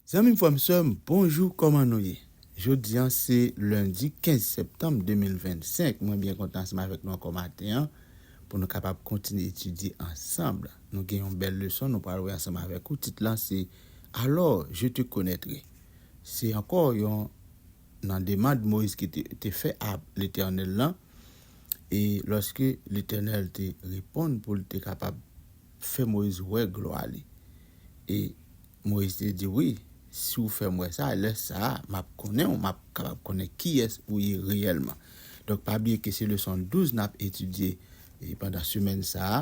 Zanmim frèm sèm bonjou kòman nou ye jodi an se lendi 15 septanm 2025 mwen byen kontan ansanm avèk nou ankò maten an pou nou kapab kontinye etidye ansanm nou gen yon bèl leson nou pral wè ansanm avèk ou tit lan se Alors je te connaîtrai. Se ankò yon nan demand Moyiz ki te te fè a Letènèl lan, e lòske Letènèl te reponn pou l te kapab fè Moyiz wè glwa li. E Moyiz te di, Wi, si ou fè m wè sa, lè sa a, m ap konnen ou, m ap kapab konnen kiyès ou ye reyèlman. Donk pa bliye ke se leson 12 n ap etidye pandan semèn sa a.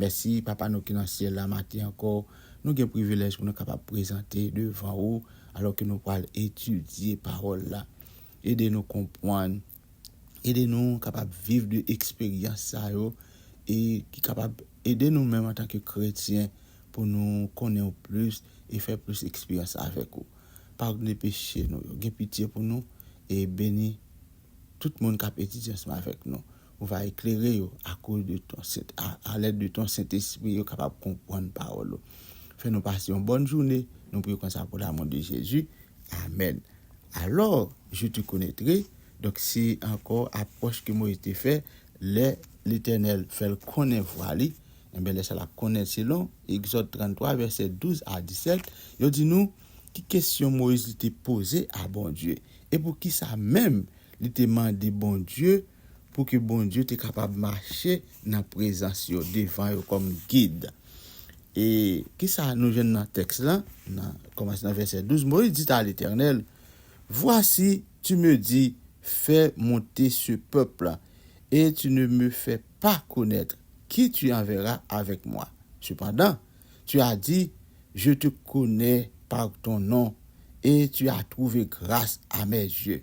Mèsi, Papa nou ki nan Syèl la, maten ankò, nou gen privilèj pou nou kapab prezante devan ou, alò ke nou pral etidye Pawòl la. Ede nou konpwann, ede nou kapab viv de eksperyans sa yo, e ki kapab ede nou menm antanke kretyen pou nou konnen ou plis e fè plis eksperyans avèk ou. Padone peche nou yo, gen pitye pou nou, e beni tout moun kap etidye ansanm avèk nou. Ou va eklere yo akoz de ton sent, a lèd de ton Sentespri, yo kapab konpwann pawòl ou. Fè nou pase yon bòn joune, nou priye konsa pou lamou de Jezi, amèn. Alò, je te konetre, donk se ankò apwòch ke Moyiz te fè, lè Letènèl fè l konnen vwa li, enben lè sa l ap konnen selon Egzòd 33 vèsè 12 a 17, yo di nou ki kesyon Moyiz li te poze a Bondye, e poukisa menm Li te mande Bondye pou ke Bondye te kapab mache nan prezans yo, devan yo kòm gid. E kisa nou jwenn nan tèks lan? Nan kòmanse nan vèsè 12, Moïse dit à l'Éternel, Voici, tu me dis, Fais monter ce peuple, et tu ne me fais pas connaître qui tu enverras avec moi. Cependant, tu as dit, Je te connais par ton nom, et tu as trouvé grâce à mes yeux.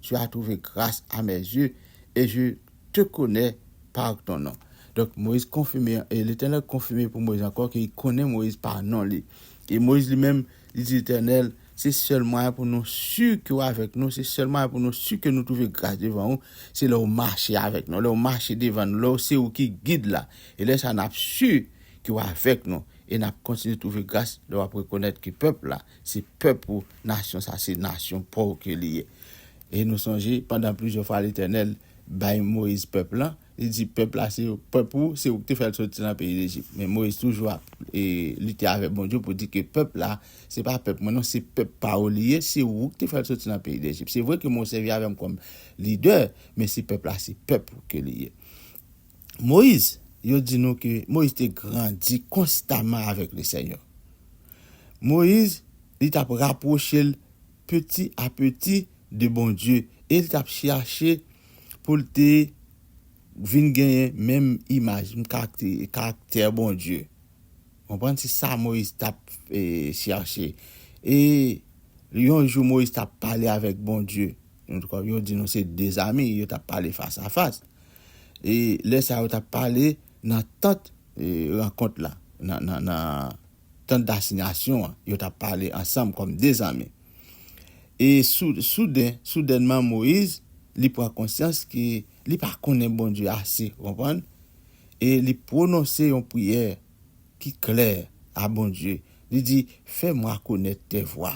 tu as trouvé grâce à mes yeux, et je te connais par ton nom. Donk, Moyiz konfime, e Letènèl konfime pou Moyiz ankò ke li konnen Moyiz pa non li. E Moyiz li menm, li di Letènèl, se sèl mwayen pou nou si ke ou avèk nou, se sèl mwayen pou nou si ke nou trouve gras devan ou, se lè ou mache avèk nou, lè ou mache devan nou, lè ou se ou ki gid la. E lè sa a n ap si ke ou avèk nou, e n ap kontinye trouve gras lè w ap rekonèt ke pèp la, Se pèp ou, nasyon sa se nasyon pa w ke li ye. E nou sonje, pandan plizyè fwa Letènèl bay Moyiz pèp lan, li di pèp la se pèp ou, se ou ki te fè l soti nan peyi Lejip. Men Moyiz toujou ap lite avèk Bondye pou di ke pèp la, se pa pèp mwen non, se pèp pa ou li ye, se ou ki te fè l soti nan peyi Lejip. Se vre ke mwen w sèvi avè m kòm lidè, men se pèp la se pèp ou ke li ye. Moyiz, yo di nou ke Moyiz te grandi konstaman avèk Lesenyè. Moyiz, li tap rapwoche l peti a peti de Bondye e li tap chache pou l te vin genyen menm imaj, menm karaktè Bondye. Konprann? Se sa Moyiz tap chache. E yon jou Moyiz tap pale avèk Bondye. Yo di nou se de zami, yo tap pale fas a fas. e lè sa yo t ap pale nan tant rankont la, nan tant dasignasyon an, yo t ap pale ansanm kòm de zanmi. E souden, soudènman Moyiz, li pran konsyans ke li pa konnen Bondye ase, ou konprann, e li pwononse yon priyè ki klè a Bondye, li di, Fè mwa konèt tè vwa,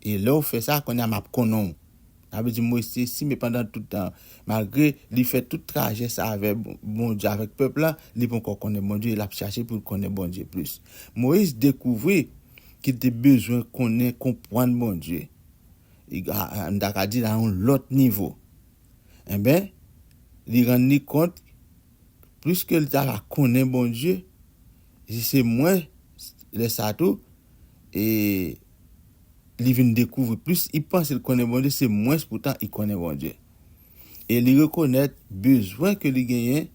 e lè ou fè sa, kounye a m ap konnen ou. Sa vle di m reste si men pandan tout tan an. Malgre li fè tout trajè sa avè Bondye, avèk pèp la, li ponkò konnen Bondye e l ap chache pou l konnen Bondye plis. Moyiz dekouvri ke l te bezwen konnen, konprann Bondye, nou ta ka di nan yon lòt nivo. Enben, li rann li kont, plis ke l ta va konnen Bondye, li di se mwen, lè sa tou, e li vin dekouvri plis i panse l konnen Bondye se mwens poutan i konnen Bondye e li rekonèt bezwen ke li genyen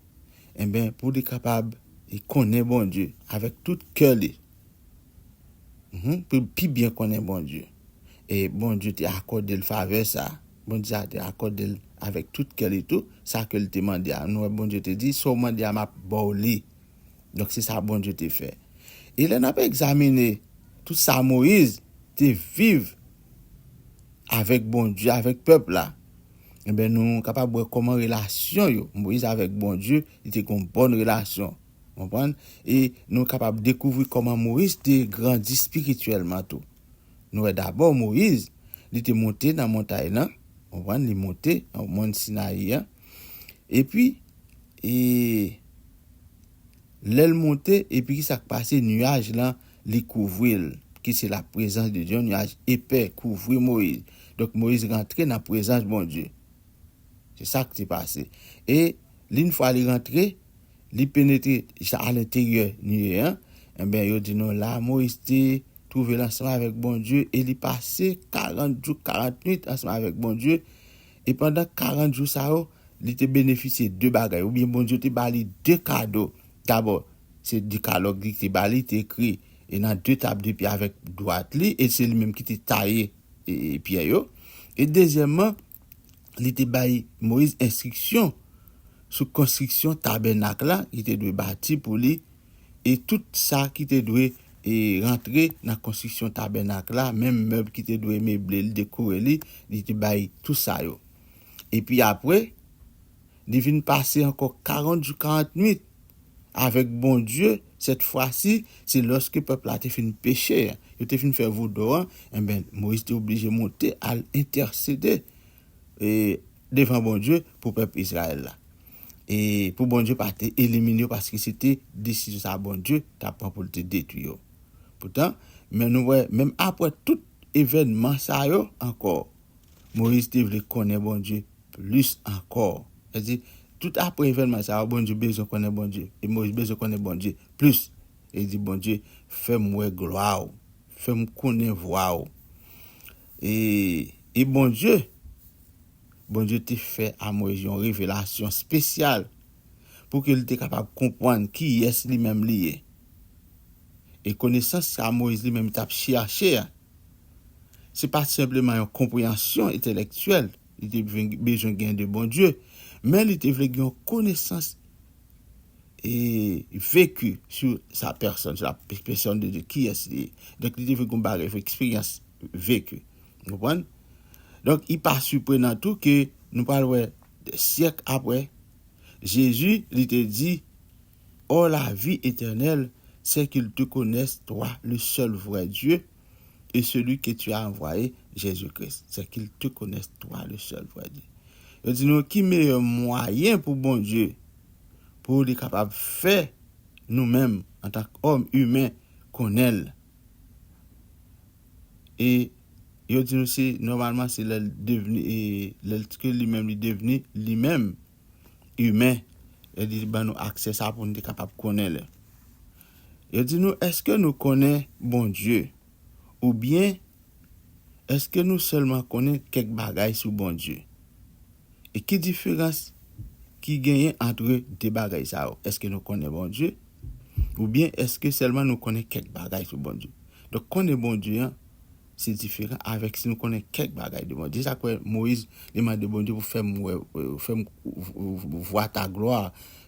enben pou li kapab e konnen Bondye avèk tout kè li pou l pi byen konnen Bondye e Bondye te akòde l favè sa Bondye sa te akòde l avèk tout kè li tou sa ke l te mande a nou wè Bondye te di sa w mande a m ap ba w li. Donk, se sa Bondye te fè. E lè n ap egzamine tout sa Moyiz te viv avèk Bondye, avèk pèp la, enben, nou kapab wè kòman relasyon yo, Moyiz avèk Bondye, li te gen yon bòn relasyon. Ou konprann? E nou kapab dekouvri kòman Moyiz te grandi espirityèlman tou. Nou wè dabò Moyiz, li te monte nan montay lan, ou konprann, li monte nan mòn Sinayi an. Epi, e, lè l monte, epi ki sa k pase? Nuaj lan, li kouvri l, ki se laprezans de Dye. Yon nuaj epè kouvri Moyiz. Donk, Moyiz rantre nan prezans Bondye. Se sa k te pase. E, li yon fwa li rantre, li penetre jis alenteryè nuye an, enben, yo di nou la, Moyiz te twouve l ansanm avèk Bondye, e li pase karant jou, karant nuit ansanm avèk Bondye, E pandan karant jou sa yo, li te benefisye de bagay, oubyen Bondye te ba li de kado. Dabò, se Dekalòg li te ba li, te ekri e nan de tab de pye avèk dwat li, e se li menm ki te taye pyè yo. E dezyèmman, li te bay Moyiz enstriksyon sou konstriksyon tabènak la, li te dwe bati pou li. e tout sa ki te dwe rantre nan konstriksyon tabènak la, menm mèb ki te dwe meble li, dekore li, li te bay tou sa yo. Epi apre, li vin pase ankò karant jou karant nuit avèk Bondye, sètfwasi, se lòske pèp la te fin peche, yo te fin fè vodou an, enben, Moyiz te oblije monte al entèsede devan Bondye pou pèp Izrayèl la. E pou Bondye pa te elimine yo paske se te desizyon sa a Bondye t ap pran pou l te detwi yo. Poutan, men nou wè, menm apre tout evènman sa yo ankò, Moyiz te vle konnen Bondye plis ankò. Sa di, tout apre evènman sa yo, Bondye bezwen konnen Bondye. E Moyiz bezwen konnen Bondye plis. E li di Bondye, Fè m wè glwa w. Fè m konnen vwa w. E e Bondye, Bondye te fè a Moyiz yon revelasyon spesyal pou ke li te kapab konpwann kiyès li menm li ye. E konesans sa Moyiz li menm tap chèche a, se pat senpleman yon konpreyansyon etelektyèl li te bezwen gen de Bondye, men li te vle gen yon konesans veki sou sa pèsòn sa ap espresyon de kiyès li ye. Donk li te vin kon bagay fo eksperyans veki. Nou konprann? Donk li pa siprenan tou ke nou pral wè de syèk apre Jezi li te di Or la vie éternelle c'est qu'ils te connaissent toi le seul vrai Dieu et celui que tu as envoyé, Jésus-Christ, c'est qu'ils te connaissent toi le seul vrai Dieu. Yo di nou ki meyè mwayen pou Bondye pou li kapab fè nou menm antank òm imen konnen l e yo di nou se nòmalman se lè l devni lè l ke li menm li devni li menm. imen, yo di li ban nou aksè sa pou nou te kapab konnen li. Yo di nou, èske nou konnen Bondye? Oubyen, èske nou sèlman konnen kèk bagay sou Bondye? E ki diferans ki genyen antre de bagay sa yo? Èske nou konnen Bondye? Oubyen, èske sèlman nou konnen kèk bagay sou Bondye? Donk, konnen Bondye an. Se diferan avèk si nou konnen kèk bagay de Bondye. Sa k fè Moyiz li mande Bondye pou fè m wè, fè m vwa ta glwa,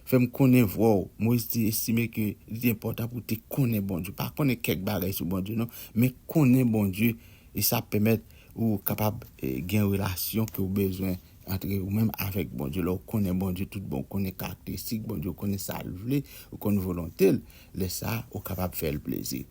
fè m konnen vwa w. Moyiz te estime ke li te enpòtan pou l te konnen Bondye. Pa konnen kèk bagay sou Bondye non, men konnen Bondye. E sa ap pèmèt ou kapab gen relasyon ke ou bezwen antre ou menm avèk Bondye. Lè ou konnen Bondye tout bon, ou konnen karakteristik Bondye, ou konnen sa l vle, ou konn volonte l, lè sa a ou kapab fè l plezi.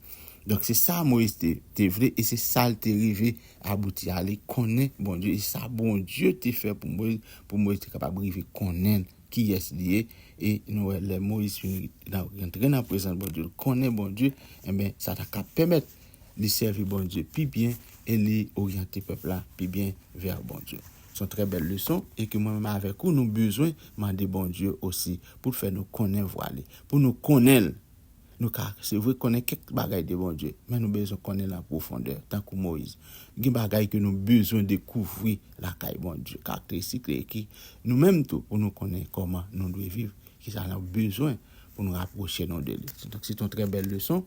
Donk se sa Moyiz te te vle e se sa l te rive abouti a. Li konnen Bondye e sa Bondye te fè pou Moyiz, pou Moyiz te kapab rive konnen l, kiyès li ye. E nou wè lè Moyiz fin rantre nan prezans Bondye, l konnen Bondye, enben sa ta ka pèmèt li sèvi Bondye pi byen e li oryante pèp la pi byen vè Bondye. Se yon trè bèl leson e ke mwen menm avèk ou nou bezwen mande Bondye osi pou l fè nou konnen vwa li, pou nou konnen l. Nou ka, se vre, konnen kèk bagay de Bondye, men nou bezwen konnen l an pwofondè, tankou Moyiz. Gen bagay ke nou bezwen dekouvri lakay Bondye, karakteristik li, e ki, nou menm tou, pou nou konnen kòman nou dwe viv, ki sa n ap bezwen pou nou rapwoche nou de li. Donk, se te yon trè bèl leson.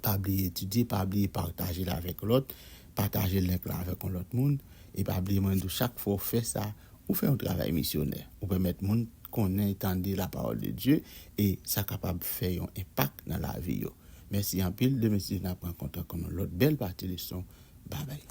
Pa bliye etidye, pa bliye pataje l avèk lòt, pataje link lan avèk yon lòt moun, e pa bliye mwen di w, chak fwa w fè sa, Ou fè yon travay misyonè. Ou pèmèt moun konnen e tande lapawòl de Dye e sa kapab fè yon enpak nan lavi yo. Mèsi anpil, demen Steve nan pran kontak an yon lòt bèl pati leson. Babay.